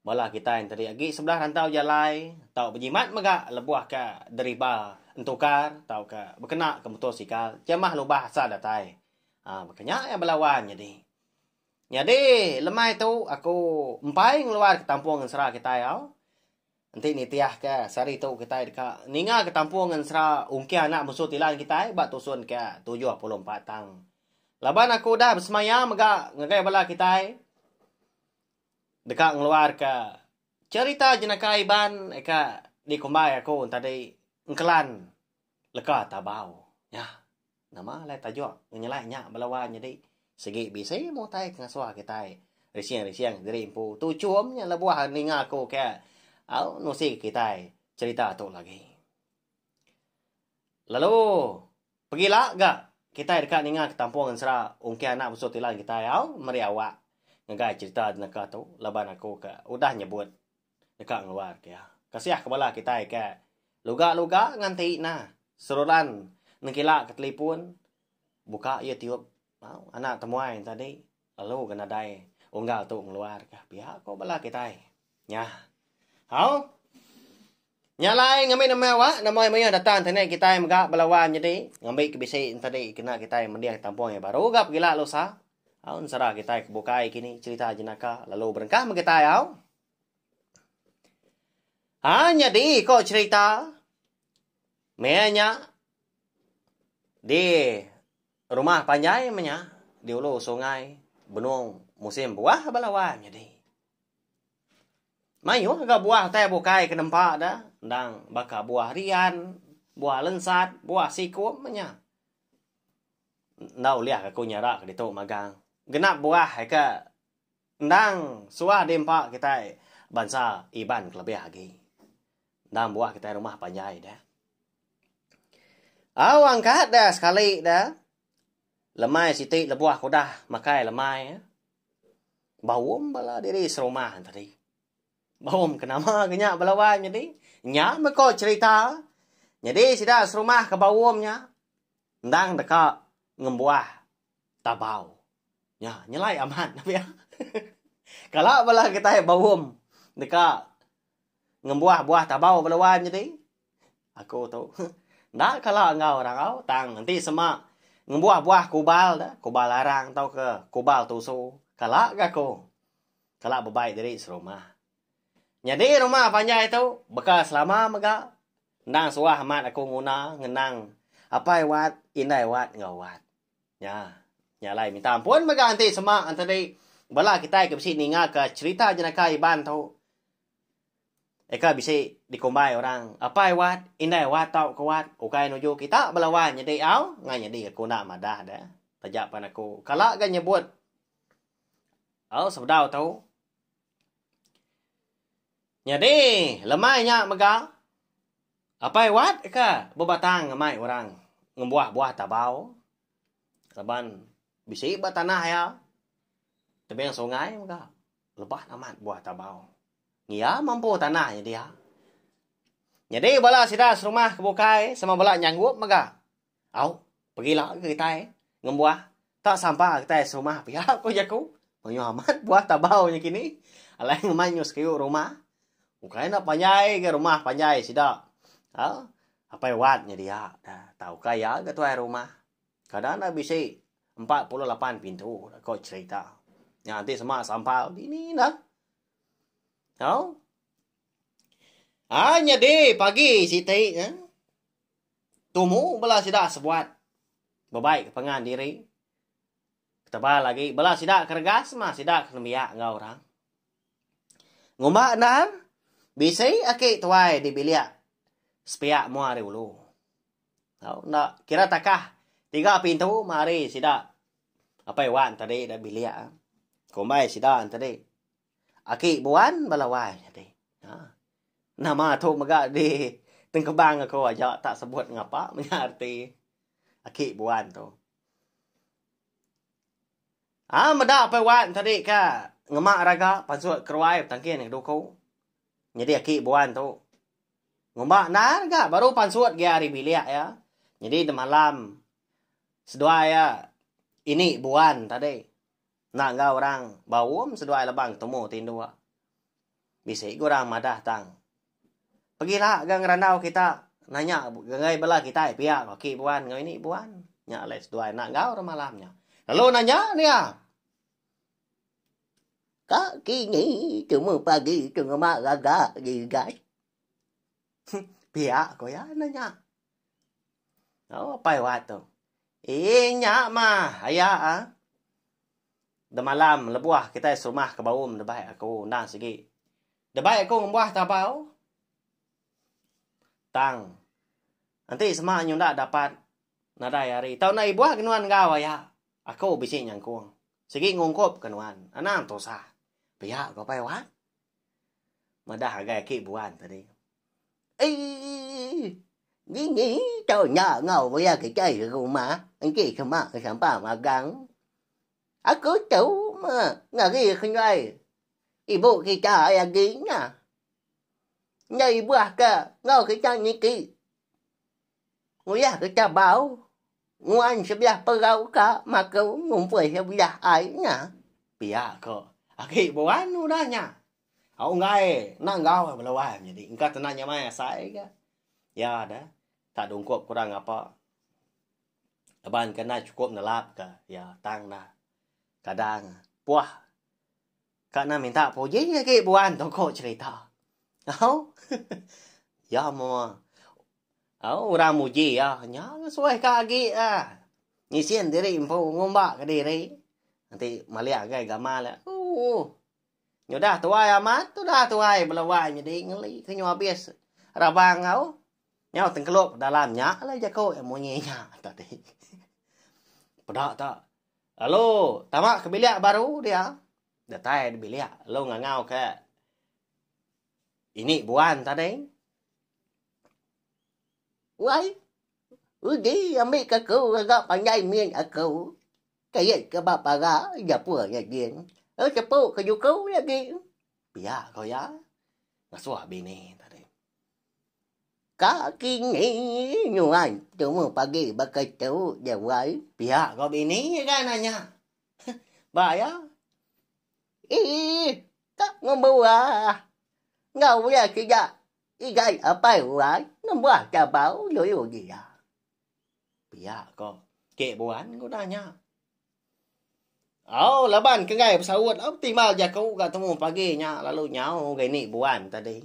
Bala kitai enteri agi sebelah rantau jalai tau bejimat mega lebuh ka deriba entukar tauka bekena ke motosikal jamah lubah asa datai. Haa baka nya iya bala wan nyadi. Nyadi lemai tu aku empai ngeluar ke tampung ngensera kitai au. Enti nitih ka sehari tu kitai deka ninga ke tampung ngensera ungkih anak munsuh tilan kitai ba tusun ka tujuh puluh empat tang. Laban aku udah besemaya mega ngagai bala kitai. Deka ngeluarka cherita jenaka Iban ka dikumbai aku tadi engkelan leka Tabau. Nya, nama alai tajuk ngenyelai nya bala wan nyadi sigi bisi meh utai ke ngasuh kitai rising-rising diri empu tu chum nya lebuh ninga aku ke au nusi kitai cherita tu lagi. Lalu pegi la ga kitai deka ninga ketampung ensera ungkih anak bsu tilan kitai au meri awak ngagai cherita neka tu laban aku ka udah nyebut deka ngeluar ke iya. Kasiah ke bala kitai ke luga luga ngan ti na seruran nengkila ke telipun buka youtube au anak temuai tadi. Lalu ke nadai unggal tu ngeluar ka pia ko bala kitai. Nya. Au. Nya alai ngambi nama awak, nama ai mayuh datang ti ni kitai mega bala wan nyadi ngambi ke bisi entadi kena kitai mending tampung yang baru ga pegila lusa. Au ensara kitai ke bukai kini cerita jenaka lalu berengkah meh kitai au. Ha nyadi ko cerita meh nya di Rumah panjai menya di ulu sungai benung musim buah bala wai nyadi. Mayuh ga buah utai bukai ke nempa da endang baka buah rian, buah lensat, buah sikum menya. Enda ulih aku nyara ke ditu magang. Genap buah eka. Endang suah diempa kitai bansa Iban kelebih agi. Endang buah kitai rumah panjai deh. Au angkat deh sekali deh. Lemai siti lebuh aku dah makai lemai. Baum bala diri serumah tadi. Baum ke nama ke nya bala wai menyadi. Nya meh ko cherita. Nyadi sida serumah ke baum nya. Endang deka ngembuah. Tabau. Nya nyelai amat nah pia. Kala bala kitai baum deka ngembuah buah tabau bala wan jadi aku tu enda kala enggau orang au tang enti sema ngembuah buah kubal da, kubal arang tauka kubal tusu kala ga aku. Kala bebai diri serumah. Nyadi rumah panjai tu baka selama mega Endang suah amat aku nguna ngenang apai Wat, indai Wat enggau Wat. Nya. Nya alai minta ampun mega enti sema entadi bala kitai ke bisi ningaka cherita jenaka Iban tu eka bisi dikumbai orang apai Wat, indai Wat tau ke Wat ukai nuju kita bala Wat nyadi au enggau nyadi aku enda madah deh. Taja pen aku kala ga nyebut au sebedau tu Nyadi, lemai nya mega, apai wat ka bebatang ngemai orang ngembuah buah tabau laban bisi ba tanah iya tebing sungai mega leban amat buah tabau. Iya mampu tanah nya dia. Nyadi bala sida serumah ke bukai sama bala nyanggup mega. Au, pegila ke kitai ngembuah tak sabar kitai serumah pia ko jaku. Mayuh amat buah tabau nya kini. Alai ngemai nyu sekiu rumah. Ukai enda panjai ga rumah panjai sida. Ha, Apai Wat nya dia. Tau ka iya ga tuai rumah. Kada enda bisi 48 pintu ko cerita. Nya enti sema sampal dini enda. Au. Ha nyadi pagi siti eh. Tumu bela sida sebuat bebaika pangan diri. Tebal agi bela sida ke regas mah sida ke nembiak enggau orang. Ngumba endar, bisi aki tuai di bilik sepiak mua ari ulu. Tau enda kira takah tiga pintu mah ari sida Apai Wan tadi da bilik. Kumbai sida enti di. Aki buan bala wai nyadi. Ha. Nama tu mega di tengkebang aku aja tak sebut ngapa menya reti aki buan tu. Ha meda pai wan tadi ka ngema raga pansut keruai betangkin ke duku. Nyadi aki buan tu ngumba endar ga baru pansut gia ari bilik ya. Nyadi demalam seduai ya ini buan tadi. Enda enggau orang baum seduai lebang temu ti induk. Bisi ga orang madah tang. Pegila ga ngerandau kita nanya ngagai bala kitai pia ko aki buan enggau ini buan. Nya alai seduai enda enggau orang malam nya. Lalu nanya dia. Ka kini temu pagi tu ngema gaga gigai. Pia ko ya na nya. Oh, pai wa tu. Eh, nya ma, aya ah. Demalam lebuah kita serumah ke baum debai aku undang sigi. Debai aku ngembuah tabau. Tang. Nanti sema nyunda dapat nadai hari. Tau na ibuah ke nuan enggau aya. Aku bisi nyangkung. Sigi ngungkup ke nuan. Anang tusah. Pia ko pai wa. Madah agai aki buan tadi. Eii. Ni ni tau nya ngau maya kitai ke rumah enti sema ke sampang magang. Aku tau me ngari kenyuai ibu kita ai agi nya. Nyai buah ke ngau kita niki. Nguyah ke chabau nguan sebiah perau ka maka ngumpul sebiah ai nya. Pia ko agi buan udah nya. Au enggai enda enggau bala wan nyadi engka tena nyamai asai ga. Pia da tak dungkup kurang ngapa. Laban ke enda chukup nelap ka iya tang da kadang puah. Ka nan minta puji agi buan toko cherita. Au. ya moa. Au orang muji ya nya suai ka agi ah. Ngisin diri empu ngumba ke diri. Nanti malia agai gamal. Uh. Nyudah tuai amat, tudah tuai belawai nyadi ngeli ke nyu abis rabang au. Nyau tengkelup dalam nya la jaku munyi nya tadi. Peda ta Lalu tama ke bilik baru dia. Datai di bilik lalu ngangau ke ini buan tadi. Wai, uji ambil ke aku agak panjai min aku. Kait ke ba paga japur nya gin. Lalu cepu ke juku nya gin. Pia ko iya. Ngasuh bini tadi. Ka kini nyuai temu pagi baka tu ja wai. Pia ko bini ga nanya. Ba ya. Ih ka ngembuah. Enggau ulah sida igai apai wai ngembuah chabau lulu dia. Pia ko ke buan ku nanya. Au laban ke enggai besaut au ti mau jaku ga temu pagi nya lalu nyau ga ini buan tadi.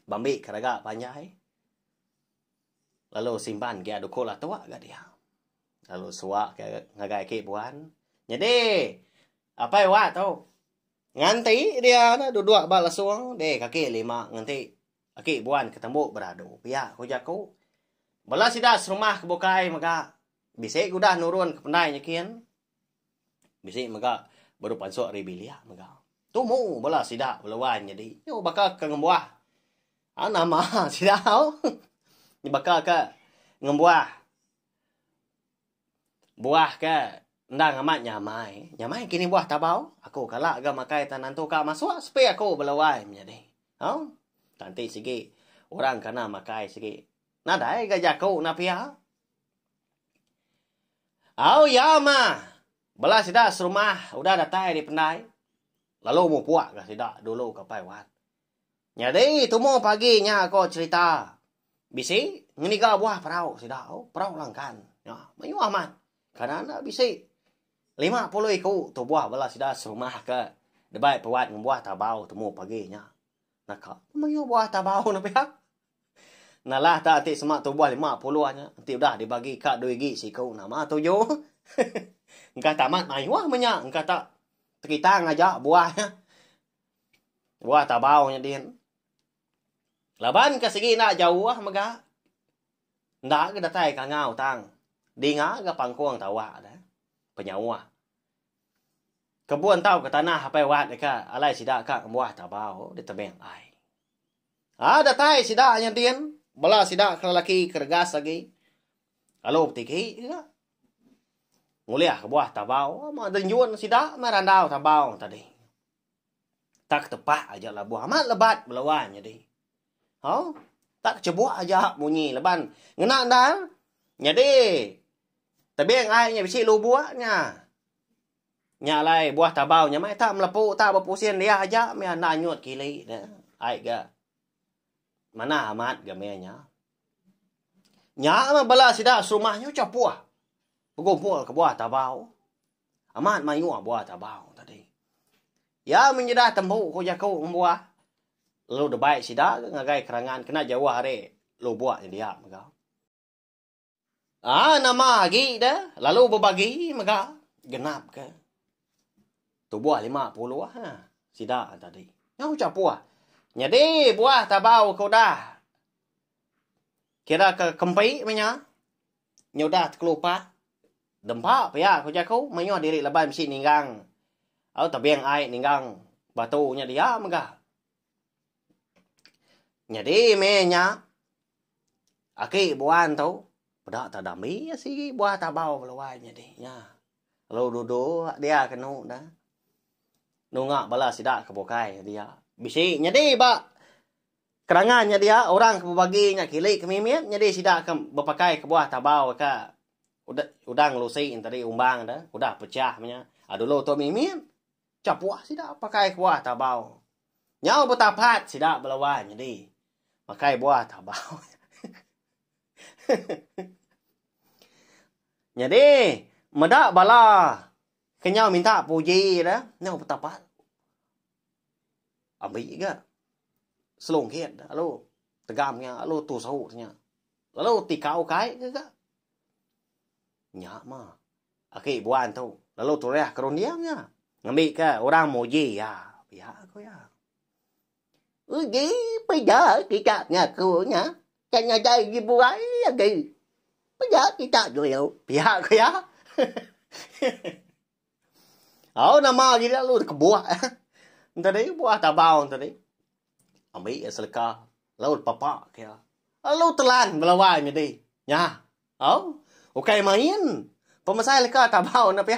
Bambi ke raga panjai lalu simban gia duku latuk ga dia. Lalu suak ke ngagai aki buan. Nyadi apai wa tu nganti dia na duduk ba lesung deh kaki lima nganti aki buan ke tembu beradu. Pia ku jaku. Bala sida serumah ke bukai mega bisi ke udah nurun ke pendai nyikin. Bisi mega baru pansuk ari bilik mega. Tumu bala sida bala wan nyadi. Nyau baka ke ngembuah. Au nama sida au. Nya baka ke ngembuah buah ke endang amat nyamai. Nyamai ke nih buah tabau. Aku kala ga makai tan nentu ka masuk sepi aku bala wan menyadi. Au. Tang ti sigi orang kana makai sigi. Nadai ga jaku enda pia. Au ya ma. Bela sida serumah udah datai ari pendai lalu mupuk ga sida dulu ka pai wat. Nyadi tumu pagi nya ko cherita bisi ngeniga buah perau sida oh perau langkan nya mayuh amat kana enda bisi lima puluh iku tubuh bala sida serumah ka deba pai wat ngembuah tabau tumu pagi nya naka mayuh buah tabau ne pia. Nalah ta ati sema tubuh lima puluh nya enti udah dibagi ka dui gi siku nama tuju. Engkah tamat mayuh menya engkah ta tekitang aja buah nya. Buah tabau nya din. Laban ka sigi enda jauh mega. Enda ga datai ka ngau tang. Dinga ga pangkung tawa da. Penyauh. Kebun tau ke tanah apai wat deka alai sida ka ngembuah tabau ditebing ai. Ai datai sida nya din, bala sida ke lelaki ke regas agi lalu betigi juga ngulih kebuah tabau. Amat deh nyun sida meh randau tabau tadi. Tak tepak aja labuh amat lebat belawan nyadi. Ha? Tak kecebuk aja munyi laban ngena endar nyadi tebing ai nya bisi lubuk nya. Nya alai buah tabau nya meh tak melepu tak bepusin dia aja meh enda nyut kili ne ai ga manah amat ga meh nya. Nya meh bala sida serumah nya ucha puh begumpul ke buah tabau. Amat mayuh buah tabau tadi. Ya menyeda tembu ku jaku ngembuah lalu debai sida ke ngagai kerangan kena jauh ari lubuk nya dia mega. Aa nama agi da lalu bebagi mega genap ke tubuh lima puluh nah sida tadi. Nyau chapuh. Nyadi buah tabau ke udah kira ke kempi menya nyudah tekelupak dempa pia ku jaku mayuh diri laban bisi ninggang au tebing ai ninggang batu nya dia mega. Nyadi meh nya aki buan tu peda ta dami iya sigi buah tabau keluai nyadi nya lalu dudok dia ke enu da nunga bala sida ke bukai dia bisi nyadi ba kedangan nya dia orang ke bebagi nya kili ke mimit nyadi sida ke bepakai ke buah tabau ka udang lusi tadi umbang da udah pecah meh nya dulu tu mimit. Chapuh sida pakai kebuah tabau. Nyau betapat sida belawan nyadi pakai buah tabau. nyadi meda bala ke nyau minta puji dah nyau betapat. Ambi ga selungkit lalu tegam nya lalu tusu nya. Lalu tikau kai ke ga. Nya mah. Aki Buan tu lalu turah ke runding iya ngambika orang muji iya pia ku iya. Uji peda kita ngaku nya ke nyadai dibuai agi. Peda kita dulu pia ku iya. Au nama agi lalu dikebuah tadi buah tabau tadi. Ambi iya seleka lalu dipapa ke iya. Lalu telan belawa nyadi. Nya Au, ukai main. Pemesai leka Tabau enda pia.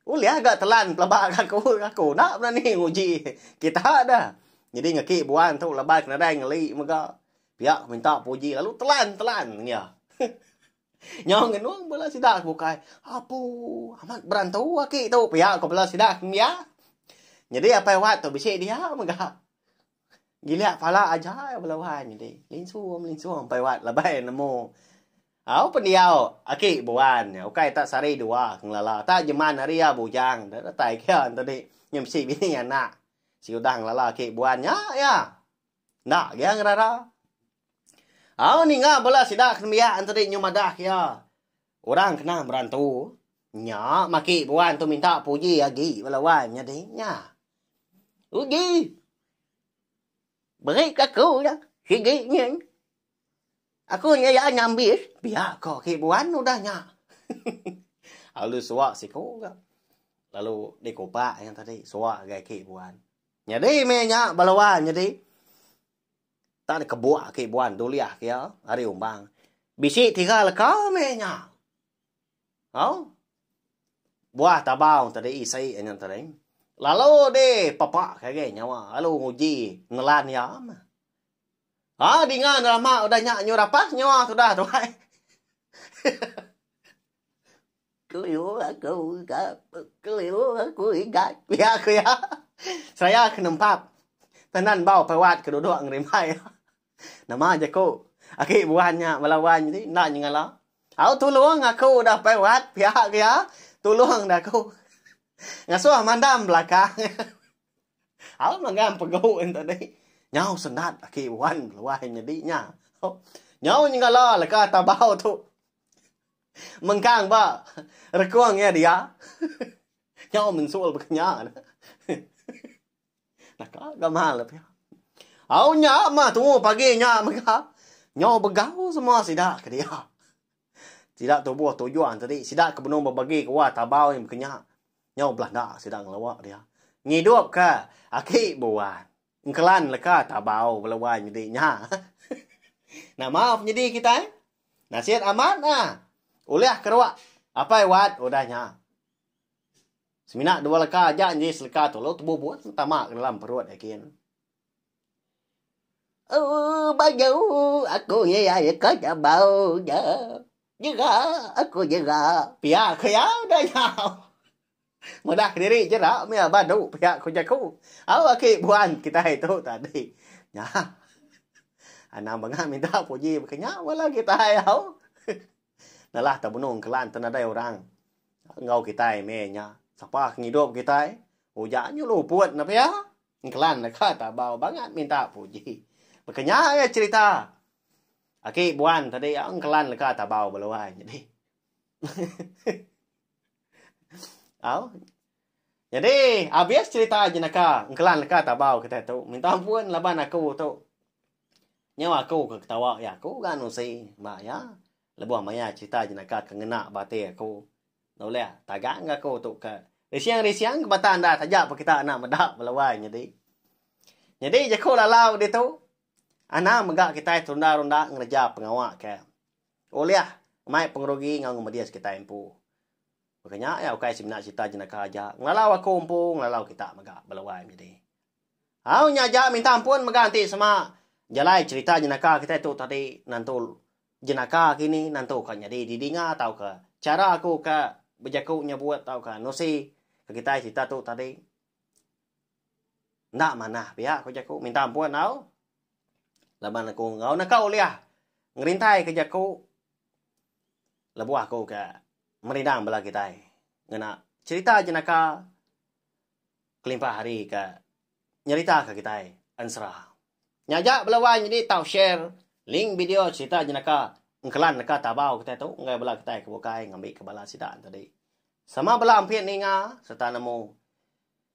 Ulih ga telan pelaba ga aku. Aku enda berani nguji kita da. Nyadi ngaki buan tu laban ke nadai ngeli mega. Pia ku minta puji lalu telan telan iya. Nyau ngenung bala sida ke bukai. Apu amat berantu aki tu pia ku bala sida ke nembiak. Nyadi apai wat tu bisi dia mega. Gilik pala aja bala wan nyadi. Linsum linsum ampai wat labai nemu. Au pendiau aki buan nya ukai tak sari dua ngelala tak jeman hari ya bujang dah datai kia tadi nya bisi bini anak. Si udah ngelala aki buan nya ya. Ndak gia ngerara. Au ninga bala sida kenembiak tadi nyu madah kia. Orang kena berantu nya maki buan tu minta puji agi bala wan nyadi nya. Uji. Beri ke aku nya sigi nyin. Aku nya ya nyambis pia ko aki buan udah nya. Lalu suak siko ga. Lalu dikupak nya tadi suak agi aki buan. Nyadi meh nya bala wan nyadi. Tang deh kebuk aki buan dulih kia ari umbang. Bisi tiga leka meh nya. Au. Buah tabau tadi isi ngan tadi. Lalu di papa kage nyawa lalu nguji nelan ya. Ha dinga drama udah nya nyu rapah nyawa sudah tuai. Keliu aku iga keliu aku iga pia aku iya. Seraya ke nempap tenan bau perawat ke duduk ngerimbai. Nama jaku agi buan nya bala wan nya ti enda nyengala. Au tulung aku udah perawat pia aku iya. Tulung deh aku. Ngasuh mandam belakang. Au manggang pegu ento deh. Nyau sendat agi buan bala wan nyadi nya. Nyau nyengala leka tabau tu. Mengkang ba rekung iya dia. Nyau mensul baka nya ne. Naka ga mal le pia. Au nya mah tu pagi nya mega. Nyau begau semua sida ke dia. Sida tubuh tujuan tadi sida ke benung bebagi ke wa tabau nya baka nya. Nyau belanda sida ngelua dia. Ngidupka aki buan. Engkelan leka tabau bela wai nyedi nya. Nama penyedi kitai? Nasit amat ah. Ulih keruak Apai Wat udah nya. Semina dua leka aja nyedi seleka tu lalu tebu buah tama ke dalam perut Ekin. Ooh, baju aku ye ya leka tabau nya. Nyera aku nyera. Pia ke ya udah nya. Meda kediri jera mia badu pia ku jaku. Au aki buan kitai tu tadi. Nya. Anang bengah minta puji baka nya bala kitai au. Nalah ta benung kelan ta nadai orang enggau kitai meh nya. Sapa ke ngidup kitai uja nyu luput ne pia. Engkelan deka ta bau bangat minta puji. Baka nya iya cerita aki buan tadi au engkelan deka ta bau beluai nyadi. Au. Jadi, habis cerita jenaka. Engkelan leka tabau kita tu. Minta ampun laban aku tu. Nyau aku ke ketawa ya aku ga nusi ba ya. Lebuh maya cerita jenaka ke ngena ba ati aku. Noleh tagang ga aku tu ke. Risiang-risiang ke bata anda taja pa kita anak meda belawai nyadi. Nyadi jaku lalau ditu. Anang mega kita terunda-runda ngereja pengawa ke. Ulih mai pengerugi enggau ngemedis kitai empu. Baka nya iya ukai semina serita jenaka aja, ngelalau aku empu ngelalau kita mega bala wai menyadi. Au nya aja minta ampun mega enti sema jalai serita jenaka kitai tu tadi nentu jenaka kini nentu ka nyadi didinga tauka chara aku ka bejaku nyebut tauka nusi kitai serita tu tadi. Enda manah pia ku jaku minta ampun tau. Laban aku enggau naka ulih ngerintai ke jaku lebuh aku ke merindang bala kitai ngena cerita jenaka kelimpah hari ke nyerita ke kitai ensera. Nya aja bela wai nyadi tau share link video cerita jenaka engkelan neka tabau kitai tu ngagai bala kitai ke bukai ngambika bala sida tadi. Sama bala ampit ninga sereta nemu.